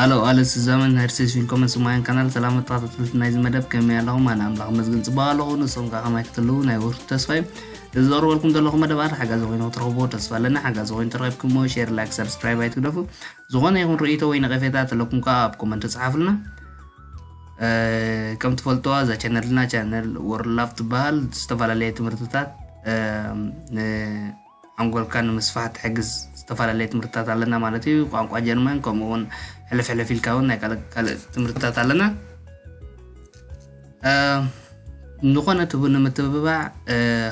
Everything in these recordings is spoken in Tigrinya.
ኣሎ ኣለ ስዛመን ናይ ርሴስ ፊልኮመን ስማያን ካናል ሰላም ተኸታተልቲ ናይዚ መደብ ከመይ ኣለኹም ኣነ ኣምላኽ መስግን ፅቡቅ ኣለኹ ንሶም ከዓ ከማይ ክትልዉ ናይ ወርቱ ተስፋ እዩ እዚ ዘቕርበልኩም ዘለኹ መደባት ሓጋዚ ኮይኑ ክትረኽቦ ተስፋ ኣለኒ ሓጋዚ ኮይኑ ተረኪብኩሞ ሼር ላይክ ሰብስክራይብ ኣይትግደፉ ዝኾነ ይኹን ርእይቶ ወይ ነቐፌታ ተለኩም ከዓ ኣብ ኮመንት ተፅሓፍልና ከም ትፈልጥዋ እዛ ቻነልና ቻነል ወርላፍ ትበሃል ዝተፈላለየ ትምህርትታት ሓንጎልካ ንምስፋሕ ትሕግዝ ዝተፈላለየ ትምህርትታት ኣለና ማለት እዩ ቋንቋ ጀርመን ከምኡ እውን ሕልፍ ሕልፍ ኢልካ እውን ናይ ካልእ ካልእ ትምህርትታት ኣለና ዝኾነ ትቡ ንምትብባዕ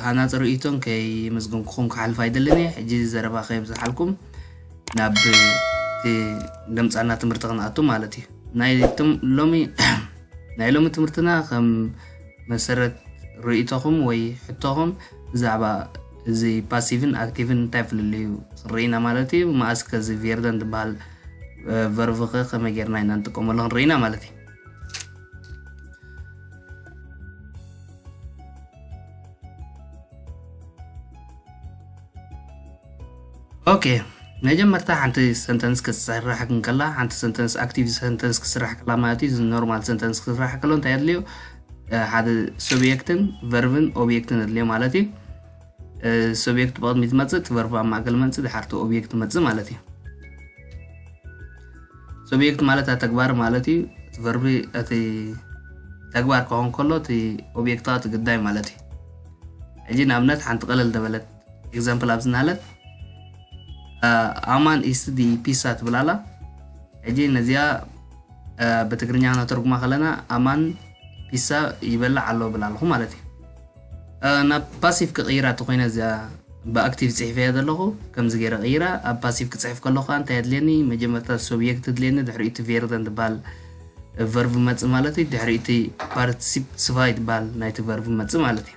ሃናፂ ርእይቶን ከይምዝግንኩኹም ክሓልፍ ኣይደልን እየ ሕጂ ዘረባ ከየብዝሓልኩም ናብ ደምፃና ትምህርቲ ክንኣቱ ማለት እዩ ናይ ሎሚ ናይ ሎሚ ትምህርትና ከም መሰረት ርእይቶኹም ወይ ሕቶኹም ብዛዕባ እዚ ፓሲቭን ኣክቲቭን እንታይ ፍልልዩ ክንርኢና ማለት እዩ መኣስ ከዚ ቬርደን ዝበሃል ቨርቭ ከ ከመይ ጌርና ኢና ንጥቀመሉ ክንርኢና ማለት እዩ ኦኬ መጀመርታ ሓንቲ ሰንተንስ ክትስራሕ ከላ ሓንቲ ሰንተንስ ኣክቲቭ ሰንተንስ ክስራሕ ከላ ማለት እዩ ኖርማል ሰንተንስ ክስራሕ ከሎ እንታይ ኣድልዮ ሓደ ሱብየክትን ቨርብን ኦብየክትን ኣድልዮ ማለት እዩ ሱብየክት ብቕድሚ ትመፅእ እቲ ቨርብ ኣብ ማእከል መንፅእ ድሓርቲ ኦብየክት መፅእ ማለት እዩ ሱብየክት ማለት ኣ ተግባር ማለት እዩ እቲ ቨርቢ እቲ ተግባር ክኸውን ከሎ እቲ ኦብየክታዊ እቲ ግዳይ ማለት እዩ ሕጂ ንኣብነት ሓንቲ ቀለል ደበለት ኤግዛምፕል ኣብዚ ናለ ኣማን ኢስት ዲ ፒሳ ትብል ኣላ ሕጂ ነዚኣ ብትግርኛ ነተርጉማ ከለና ኣማን ፒሳ ይበላዕ ኣሎ ብል ኣለኹ ማለት እዩ ናብ ፓሲቭ ክቕይራ እተኮይነ እዚኣ ብኣክቲቭ ፅሒፈያ ዘለኹ ከምዚ ገይረ ቅይራ ኣብ ፓሲቭ ክፅሕፍ ከለኹ ከዓ እንታይ ኣድልየኒ መጀመርታ ሶብየክት ድልየኒ ድሕሪ እቲ ቬርደን ትበሃል ቨርቭ መፅእ ማለት እዩ ድሕሪ እቲ ፓርቲሲፕ ስፋይ ትበሃል ናይቲ ቨርቭ መፅእ ማለት እዩ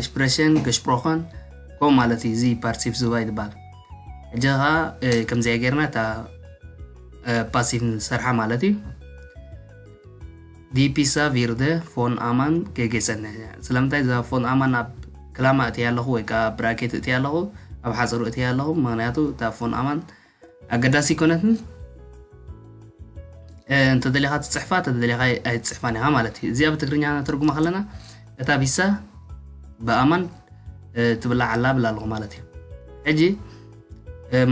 ኤክስፕሬሽን ገሽፕሮኸን ከምኡ ማለት እዩ እዚ ፓርቲቭ ዝባ ይትበሃል ሕጂ ከዓ ከምዚኣ ጌርና እታ ፓሲቭ ንሰርሓ ማለት እዩ ዲፒሳ ቪርደ ፎን ኣማን ገጌፀነ ስለምንታይ እዛ ፎን ኣማን ኣብ ክላማ እትያ ኣለኹ ወይ ከዓ ብራኬት እትያ ኣለኹ ኣብ ሓፀሩ እትያ ኣለኹ ምክንያቱ እታ ፎን ኣማን ኣገዳሲ ኣይኮነትን እንተደሊኻ ትፅሕፋ እንተደሊኻ ኣይትፅሕፋን ኢኻ ማለት እዩ እዚኣ ብትግርኛ ነተርጉማ ከለና እታ ቢሳ ብኣማን ትብላዕ ኣላ ብላ ኣለኹ ማለት እዩ ሕጂ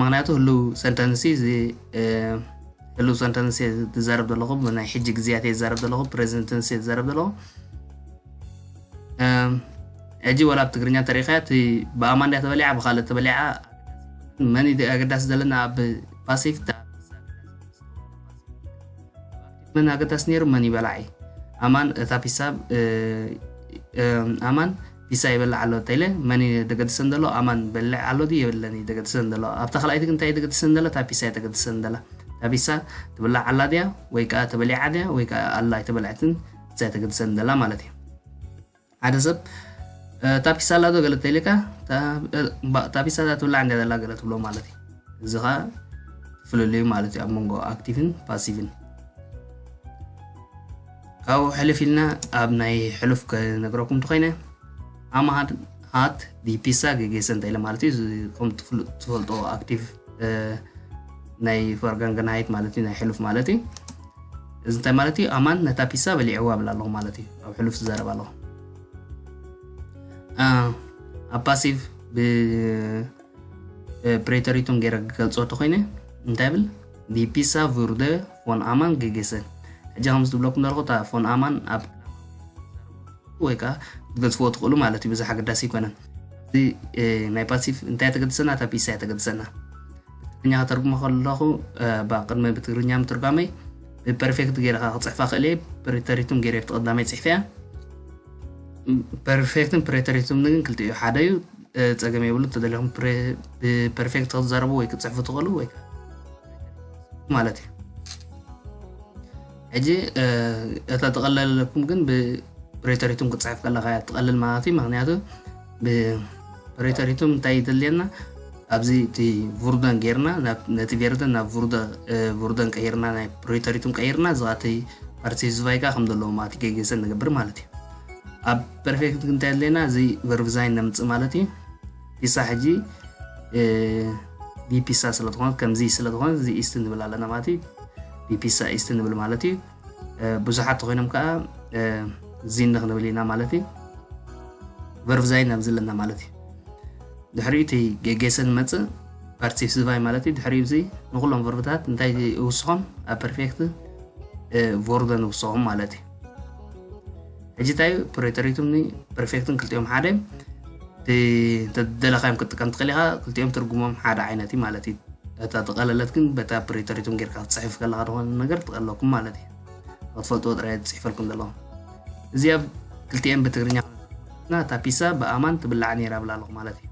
ምክንያቱ ህልው ሰንተንሲ እዚ ህልው ሰንተንሲ ትዛረብ ዘለኹ ብናይ ሕጂ ግዜያት እየ ዝዛረብ ዘለኹ ፕሬዚደንትንሲ እየ ዝዛረብ ዘለኹ ሕጂ ወላ ብ ትግርኛ ተሪኸያ እቲ ብኣማን ድያ ተበሊዓ ብካልእ ተበሊዓ መን እዩ ኣገዳሲ ዘለና ኣብ ፓሲፍ መን ኣገዳሲ ነይሩ መን ይበላዕ ኣማን እታ ፒሳ ኣማን ፒሳ ይበላዕ ኣሎ ተይለ መን እዩ ደገድሰን ዘሎ ኣማን በልዕ ኣሎ ድዩ የብለን እዩ ደገድሰን ዘሎ ኣብታ ካልኣይቲ ግን እንታይ ደገድሰን ዘሎ እታ ፒሳ እዩ ደገድሰን ዘላ እታ ፒሳ ትብላዕ ኣላ ድያ ወይ ከዓ ተበሊዓ ድያ ወይ ከዓ ኣላ ኣይተበልዐትን እዛ ተገድሰን ዘላ ማለት እዩ ሓደ ሰብ እታ ፒሳ ኣላዶ ገለ ተይልካ እታ ፒሳ እዛ ትብላዕ እንዳ ዘላ ገለ ትብሎ ማለት እዩ እዚ ከዓ ፍልልዩ ማለት እዩ ኣብ መንጎ ኣክቲቭን ፓሲቭን ካብኡ ሕልፍ ኢልና ኣብ ናይ ሕሉፍ ከነግረኩም እንተኮይነ ኣማሃድ ሃት ዲፒሳ ገጌሰ እንተኢለ ማለት እዩ ከም ትፈልጦ ኣክቲቭ ናይ ፈርጋንገናይት ማለት እዩ ናይ ሕሉፍ ማለት እዩ እዚ እንታይ ማለት እዩ ኣማን ነታ ፒሳ በሊዕዋ ብል ኣለኹ ማለት እዩ ኣብ ሕሉፍ ዝዛረብ ኣለኹ ኣብ ፓሲቭ ብፕሬተሪቱን ገይረ ክገልፆ እንተኮይነ እንታይ ብል ፒሳ ቪርደ ፎን ኣማን ግጌሰ ሕጂ ከምዚ ዝብለኩም ዘለኹ እታ ፎን ኣማን ኣብ ወይ ከዓ ክትገዝፍዎ ትኽእሉ ማለት እዩ ብዛሕ ኣገዳሲ ኣይኮነን እዚ ናይ ፓሲቭ እንታይ ተገድሰና እታ ፒሳ እያ ተገድሰና ብትግርኛ ከተርጉሞ ከለኹ ቅድሚ ብትግርኛ ምትርጓመይ ብፐርፌክት ገይረ ከዓ ክፅሕፋ ክእል እየ ፕሪተሪቱም ገይረ ኣብቲ ቀዳመይ ፅሕፈ እያ ፐርፌክትን ፕሬተሪቱም ግን ክልቲ እዩ ሓደ እዩ ፀገም የብሉ ተደሊኹም ብፐርፌክት ክትዘረቡ ወይ ክትፅሕፉ ትኽእሉ ወይ ማለት እዩ ሕጂ እታ ተቐለለኩም ግን ብፕሬተሪቱም ክትፅሕፍ ከለካ እያ ትቐልል ማለት እዩ ምክንያቱ ብፕሪቶሪቱ እንታይ ይድልየና ኣብዚ እቲ ቡርደን ጌርና ነቲ ቬርደን ናብ ቡርደን ቀይርና ናይ ፕሪቶሪቱን ቀይርና እዚ እቲ ፓርቲ ህዝባይ ከዓ ከም ዘለዎ ማለት ገጌሰን ንገብር ማለት እዩ ኣብ ፐርፌክት እንታይ ኣለና እዚ ቨርቭዛይን ነምፅእ ማለት እዩ ፒሳ ሕጂ ቢፒሳ ስለዝኾነት ከምዚ ስለዝኾነ እዚ ኢስት ንብል ኣለና ማለት እዩ ቢፒሳ ኢስት ንብል ማለት እዩ ብዙሓት ተኮይኖም ከዓ ዚን ንክንብል ኢና ማለት እዩ ቨርቭዛይ ናብ ዘለና ማለት እዩ ድሕሪኡ እቲ ጌጌሰ ንመፅእ ፓርቲሲቫይ ማለት እዩ ድሕሪኡ እዚ ንኩሎም ቨርብታት እንታይ ይውስኾም ኣብ ፐርፌክት ቮርበ ንውስኾም ማለት እዩ ሕጂ እንታይ እዩ ፕሬተሪቱን ፕሪፌክትን ክልቲኦም ሓደ እንተደለኻዮም ክትጥቀም ትኽእል ኢኻ ክልቲኦም ትርጉሞም ሓደ ዓይነት እዩ ማለት እዩ እታ ዝቐለለት ግን በታ ፕሬተሪቱን ጌርካ ክትፅሕፍ ከለካ ዝኾነ ነገር ትቐለኩም ማለት እዩ ክትፈልጥዎ ጥራይ ዝፅሕፈልኩም ዘለኹም እዚ ኣብ ክልቲኤን ብትግርኛ ና እታ ፒሳ ብኣማን ትብላዕ ነይራ ብላ ኣለኹ ማለት እዩ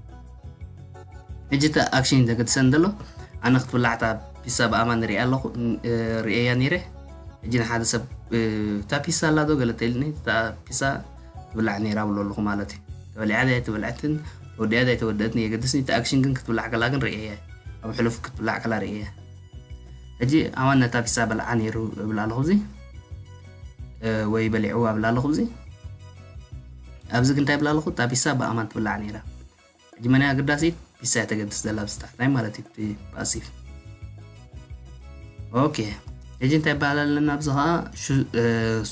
ሕጂ እቲ ኣክሽን ዘገድሰን ዘሎ ኣነ ክትብላዕታ ፒሳ ብኣማን ሪኣ ኣለኹ ርእየያ ነይረ ሕጂ ንሓደ ሰብ እታ ፒሳ ኣላ ዶ ገለ ተኢልኒ እታ ፒሳ ትብላዕ ነይራ ብሎ ኣለኹ ማለት እዩ ተበሊዓ ድያ ኣይተበልዐትን ተወዲኣ ድያ ኣይተወደአትን የገድስኒ እቲ ኣክሽን ግን ክትብላዕ ከላ ግን ርእየያ ኣብ ሕሉፍ ክትብላዕ ከላ ርእየያ ሕጂ ኣማን ነታ ፒሳ በልዓ ነይሩ እብል ኣለኹ እዚ ወይ በሊዕዋ እብል ኣለኹ እዚ ኣብዚ ግን እንታይ እብል ኣለኹ እታ ፒሳ ብኣማን ትብላዕ ነይራ ሕጂ መን እያ ኣገዳሲት ፒሳ እያ ተገድስ ዘላ ኣብዚ ታሕታይ ማለት እዩ እቲ ፓሲቭ ኦኬ ሕጂ እንታይ ይበሃል ኣለና ኣብዚ ከዓ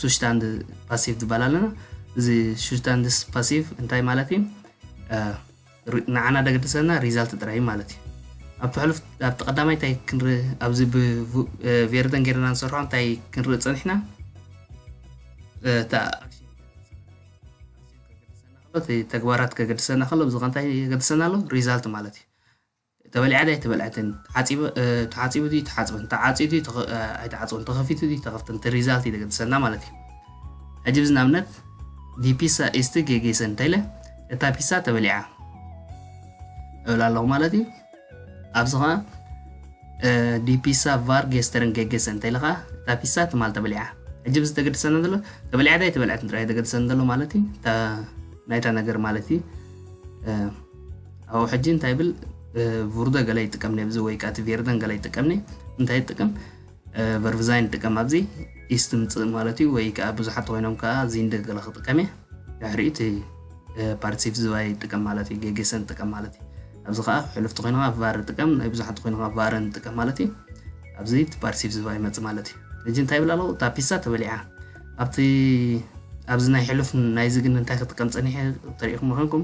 ሱሽታንድ ፓሲቭ ዝበሃል ኣለና እዚ ሱሽታንድ ፓሲቭ እንታይ ማለት እዩ ንዓና ደገድሰና ሪዛልት ጥራይ ማለት እዩ ኣብቲ ሕሉፍ ኣብቲ ቀዳማይ እንታይ ክንርኢ ኣብዚ ብቬርደን ጌርና ንሰርሖ እንታይ ክንርኢ ፀኒሕና እቲ ተግባራት ከገድሰና ከሎ ብዝኸ እንታይ የገድሰና ኣሎ ሪዛልት ማለት እዩ ተበሊዓ ድያ ኣይተበልዐትን ተሓፂቡ ድዩ ተሓፅበን ተዓፅዩ ድዩ ኣይተዓፅበን ተኸፊቱ ድዩ ተኸፍተን እቲ ሪዛልት እዩ ዘገድሰና ማለት እዩ ሕጂ ብዚ ንኣብነት ዲፒሳ ኢስቲ ጌጌሰን እንታይ ኢለ እታ ፒሳ ተበሊዓ እብል ኣለኹ ማለት እዩ ኣብዚ ኸኣ ዲ ፒሳ ቫር ጌስተርን ጌጌሰን እንተ ኢልኻ እታ ፒሳ ትማል ተበሊዓ ሕጂ ብዚ ተገድሰና ዘሎ ተበሊዓ ዳይ ተበልዐትን ጥራይ ተገድሰን ዘሎ ማለት እዩ እታ ናይታ ነገር ማለት እዩ ኣብኡ ሕጂ እንታይ ብል ቭርዶ ገለ ይጥቀም ነብዚ ወይ ከዓ እቲ ቬርደን ገለ ይጥቀም ነ እንታይ ይጥቀም ቨርቭዛይን ንጥቀም ኣብዚ ኢስ ትምፅእ ማለት እዩ ወይ ከዓ ብዙሓት ተኮይኖም ከዓ እዚ እንደገለ ክጥቀም እየ ድሕሪኡ እቲ ፓርቲሲፕ ዝባይ ጥቀም ማለት እዩ ገጌሰን ጥቀም ማለት እዩ ኣብዚ ከዓ ሕሉፍቲ ኮይንካ ቫር ጥቀም ናይ ብዙሓት ኮይንካ ቫረን ጥቀም ማለት እዩ ኣብዚ እቲ ፓርቲሲፕ ዝባ ይመፅ ማለት እዩ ሕጂ እንታይ ይብል ኣለዉ እታ ፒሳ ተበሊዓ ኣብቲ ኣብዚ ናይ ሕሉፍ ናይዚ ግን እንታይ ክጥቀም ፀኒሐ ተሪኢኹም ኮይንኩም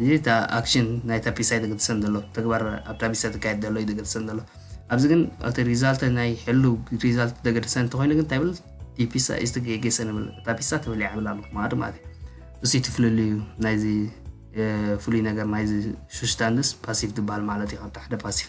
እዚ እታ ኣክሽን ናይታ ፒሳ እዩ ደገድሰን ዘሎ ተግባር ኣብታ ፒሳ ተካየድ ዘሎ እዩ ደገድሰን ዘሎ ኣብዚ ግን እቲ ሪዛልተ ናይ ሕሉ ሪዛልት ደገድሰን እንተኮይኑ ግን እንታይ ብል እቲ ፒሳ እዩ ዝተገገሰ ንብል እታ ፒሳ ተበሊዓ ብል ኣለኩ ማለት ማለት እዩ እሱ እቲ ፍልልዩ ናይዚ ፍሉይ ነገር ናይዚ ሱስታንስ ፓሲቭ ዝበሃል ማለት እዩ ካብቲ ሓደ ፓሲቭ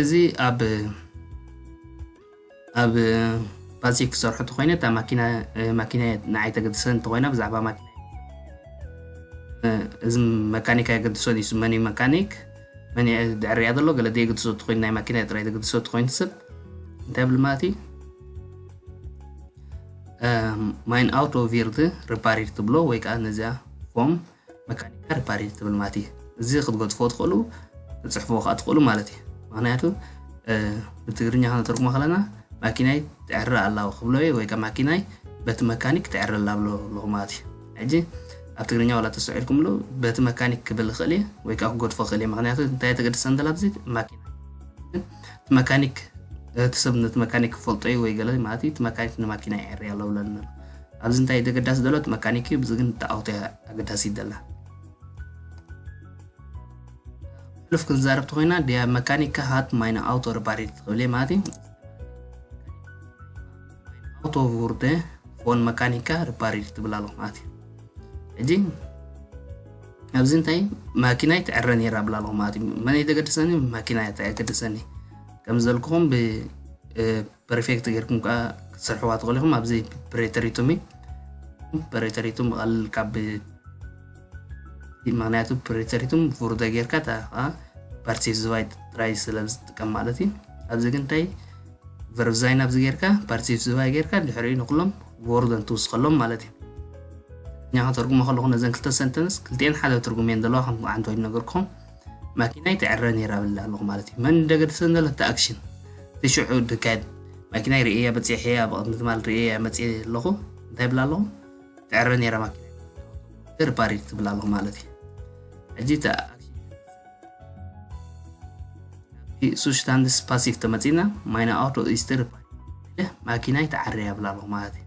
እዚ ኣብ ኣብ ባዚ ክሰርሑ እንተኮይነ እታ ማኪና ማኪና ንዓይ ተገድሰን እንተኮይና ብዛዕባ ማኪና እዚ መካኒክ ኣይገድሶን እዩ መን እዩ መካኒክ መን ድዕርያ ዘሎ ገለ ደየገድሶ እትኮይኑ ናይ ማኪና ጥራይ ተገድሶ እትኮይኑ ሰብ እንታይ ብል ማለት እዩ ማይን ኣውቶ ቪርት ሪፓሪር ትብሎ ወይ ከዓ ነዚኣ ፎም መካኒካ ሪፓሪት ትብል ማለት እዩ እዚ ክትገጽፎ ትኽእሉ ትጽሕፍዎ ከዓ ትኽእሉ ማለት እዩ ምክንያቱ ብትግርኛ ከነተርጉሞ ከለና ማኪናይ ትዕረ ኣላው ክብሎ እየ ወይ ከዓ ማኪናይ በቲ መካኒክ ትዕረ ኣላ ብሎ ኣለኹ ማለት እዩ ሕጂ ኣብ ትግርኛ ዋላ ተሰዒልኩምሉ በቲ መካኒክ ክብል ይኽእል እየ ወይ ከዓ ክገድፎ ክእል እየ ምክንያቱ እንታይ ተገድሰ እንተላ ብዚ ማኪና እቲ መካኒክ እቲ ሰብ ነቲ መካኒክ ክፈልጦ እዩ ወይ ገለ ማለት እዩ እቲ መካኒክ ንማኪና ይዕሪ ኣሎ ብለና ኣብዚ እንታይ ደገዳሲ ደሎ እቲ መካኒክ እዩ ብዚ ግን እታ ኦክቶ እያ ኣገዳሲት ደላ ሕሉፍ ክንዛረብ ተኮይና ድያ መካኒካ ሃት ማይና ኣውቶ ርባሪት ትኽብል እየ ማለት እዩ ኣውቶ ቡርደ ፎን መካኒካ ርባሪት ትብል ኣለኹ ማለት እዩ ሕጂ ኣብዚ እንታይ ማኪናይ ትዕረ ነይራ ብላ ኣለኹ ማለት እዩ መን የተገድሰኒ ማኪና እያ ተገድሰኒ ከም ዘልኩኹም ብ ፐርፌክት ጌርኩም ከኣ ክትሰርሕዋ ትኽእሉ ኢኹም ኣብዚ ፕሬተሪቱም እዩ ፕሬተሪቱም ብቐልል ካብ ምክንያቱ ፕሬተሪቱም ቡርደ ጌርካ እታ ከዓ ፓርቲስ ዝባይ ጥራይ ስለ ዝጥቀም ማለት እዩ ኣብዚ ግን እንታይ ቨርብዛይን ኣብዚ ጌርካ ፓርቲስ ዝባይ ጌርካ ድሕሪኡ ንኩሎም ቮርደን ትውስኸሎም ማለት እዩ እኛ ከተርጉሞ ከለኹ ነዘን ክልተ ሰንተንስ ክልቲኤን ሓደ ትርጉም እየን ዘለዋ ከም ዓንተ ወይድ ነገርኩም ማኪናይ ትዕረ ነይራ ብላ ኣለኹ ማለት እዩ መን ደገድሰን ዘለተ ኣክሽን ትሽዑ ድካድ ማኪናይ ርእየያ በፂሐያ ብቕድሚ ትማል ርእየያ መፅ ኣለኹ እንታይ ብላ ኣለኹ ትዕረ ነይራ ማኪና ርፓሪ ትብላ ኣለኹ ማለት እዩ ሕጂ እቲ ሱሽታንድስ ፓሲቭ ተመፂና ማይና ኣውቶ ኢስተር ማኪናይ ትዓረያ ብላ ኣለኹ ማለት እዩ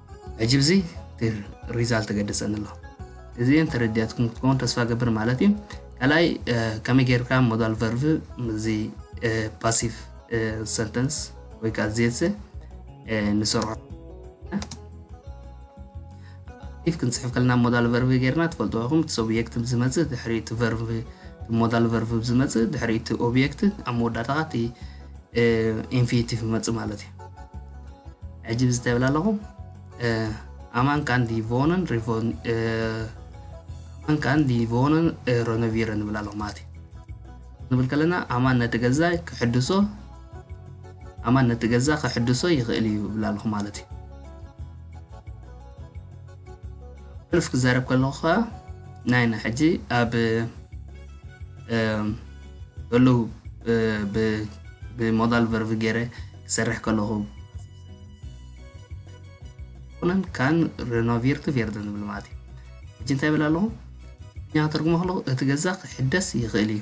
ሕጂ ብዚ ሪዛልት ተገደጸኒ ኣሎ እዚን ተረድያትኩም ክትከውን ተስፋ ገብር ማለት እዩ ካልኣይ ከመይ ጌርካ ሞዳል ቨርቭ እዚ ፓሲቭ ሰንተንስ ወይ ከዓ ዜት ንሰርሖ ኢፍ ክንፅሕፍ ከለና ሞዳል ቨርቭ ጌርና ትፈልጡ ኢኹም እቲ ኦብየክት ዝመፅእ ድሕሪ እቲ ቨርቭ ሞዳል ቨርቭ ዝመፅእ ድሕሪ እቲ ኦብየክት ኣብ መወዳእታ እቲ ኢንፊኒቲ ክመፅእ ማለት እዩ ሕጂ እዚ እንታይ ይብል ኣለኹ ኣማን ካን ዲቮንን ኣማን ካን ዲቮንን ረኖቪረ ንብል ኣለኹ ማለት እዩ ንብል ከለና ኣማን ነቲ ገዛ ክሕድሶ ኣማን ነቲ ገዛ ክሕድሶ ይኽእል እዩ ይብል ኣለኹ ማለት እዩ ሕሉፍ ክዛረብ ከለኹ ከዓ ናይና ሕጂ ኣብ እሉ ብሞዳል ቨርቭ ገይረ ክሰርሕ ከለኹ ኩነን ካን ሬኖቪርት ቬርድ ንብል ማለት እዩ ሕጂ እንታይ ብል ኣለኹ እኛ ተርጉሞ ከለኹ እቲ ገዛ ክሕደስ ይኽእል እዩ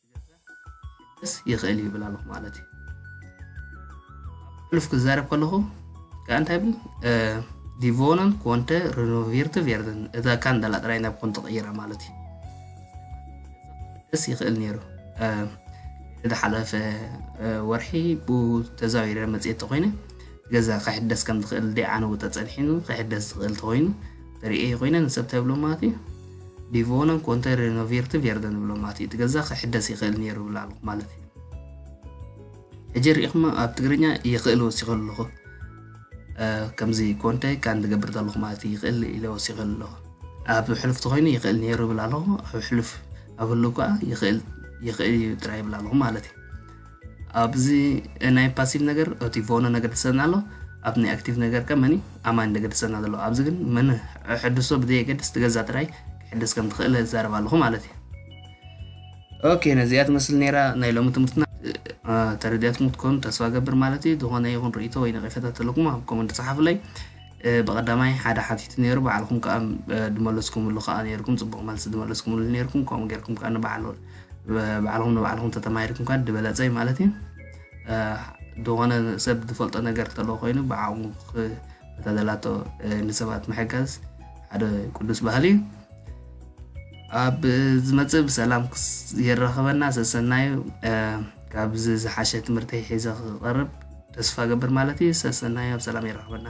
ስ ይኽእል እዩ ይብል ኣለኹ ማለት እዩ ሕሉፍ ክዛረብ ከለኹ ከዓ እንታይ ብል ዲቮነን ኮንተ ሪኖቪርቲ ቬርደን እታ ካንደላ ጥራይ ናብ ኮን ተቐይራ ማለት እዩ ደስ ይኽእል ነይሩ ዝሓለፈ ወርሒ ብኡ ተዛዊረ መፅኤት ተኮይነ ገዛ ክሕደስ ከም ዝኽእል ደይ ዓነው ተፀኒሒኑ ክሕደስ ዝኽእል ተኮይኑ ሪኤ ኮይነ ንሰብ እንታይ ብሎ ማለት እዩ ዲቮነን ኮንተ ሬኖቬርቲ ቬርደን ብሎ ማለት እዩ እቲ ገዛ ክሕደስ ይኽእል ነይሩ ብላ ኣለኹ ማለት እዩ ሕጂ ርኢኹማ ኣብ ትግርኛ ይኽእል ወሲኸ ኣለኹ ከምዚ ኮንተ ካን ዝገብር ዘለኹ ማለት እዩ ይኽእል ኢለ ወሲኸ ኣለኹ ኣብ ሕሉፍ ተኮይኑ ይኽእል ነይሩ ብላ ኣለኹ ኣብ ሕሉፍ ኣብ ህሉ ከዓ ይኽእል ይኽእል እዩ ጥራይ ብላ ኣለኹ ማለት እዩ ኣብዚ ናይ ፓሲቭ ነገር እቲ ቮነ ነገር ትሰና ኣሎ ኣብ ናይ ኣክቲቭ ነገር ከ መኒ ኣማኒ ነገር ትሰና ዘሎ ኣብዚ ግን መን ሕድሶ ብዘየገድስ ትገዛ ጥራይ ክሕድስ ከም ትኽእል ዛረብ ኣለኹ ማለት እዩ ኦኬ ነዚኣ ትመስል ነይራ ናይ ሎሚ ትምህርትና ተረዲያትኩም ትኮኑ ተስፋ ገብር ማለት እዩ ዝኾነ ይኹን ርእቶ ወይ ነቐፈታ ተለኩም ኣብ ኮመንት ፀሓፉለይ ብቐዳማይ ሓደ ሓቲቱ ነይሩ በዓልኩም ከዓ ድመለስኩምሉ ከዓ ነይርኩም ፅቡቕ መልሲ ድመለስኩምሉ ነይርኩም ከምኡ ገይርኩም ከዓ ንበዓል ባዕልኹም ንባዕልኹም ተተማሂርኩም ካ ዝበለፀ እዩ ማለት እዩ ዝኾነ ሰብ ዝፈልጦ ነገር ተለዎ ኮይኑ ብዓቕሙ ተዘላቶ ንሰባት ምሕጋዝ ሓደ ቅዱስ ባህሊ እዩ ኣብ ዝመፅእ ብሰላም የራኸበና ሰሰናዩ ካብዚ ዝሓሸ ትምህርቲ ሒዘ ክቐርብ ተስፋ ገብር ማለት እዩ ሰሰናዩ ኣብ ሰላም የራኸበና